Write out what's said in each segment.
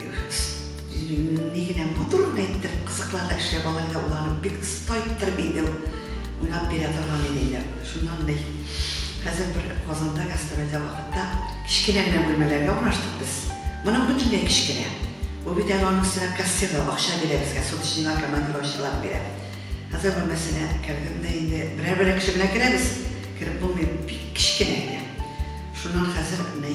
Дөрес. Җиреңнең ни генә матурын әйттең, кызыкларда эшләп алай да уларың бик оста иттер бит инде ул. Уйлап бирә торган иде инде. Шуннан ди, хәзер бер Казанда гастрольдә вакытта кечкенә генә бүлмәләргә урнаштык без. Моның бөтенләй кечкенә. Бу бит әле аның өстенә кассирлар акча бирә безгә, суточныйлар, командировочныйлар бирә. Хәзер бүлмәсенә кердем дә инде, берәр-берәр кеше белән керәбез, кереп булмый, бик кечкенә генә. Шуннан хәзер ни.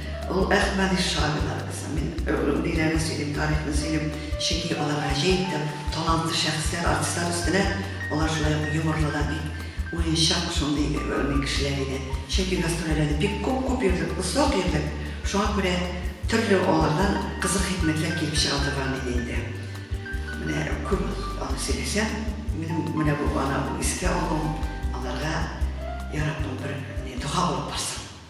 Ул Әхмәди Шамилар кызы. Мин гомум өйләрне сөйлим, тарихны сөйлим, чөнки алар гаҗәеп тә талантлы шәхесләр, артистлар өстенә. Алар шулай ук юморлы да бик, уенчак шундый гомум кешеләр иде. Чөнки гастрольләрдә бик күп-күп йөрдек, озак йөрдек, шуңа күрә төрле алардан кызык хикмәтләр килеп чыга торган иде инде. Менә күп аны сөйләсәм, минем менә бу ана бу искә алуым аларга, Йа Раббым, бер дога булып барсын.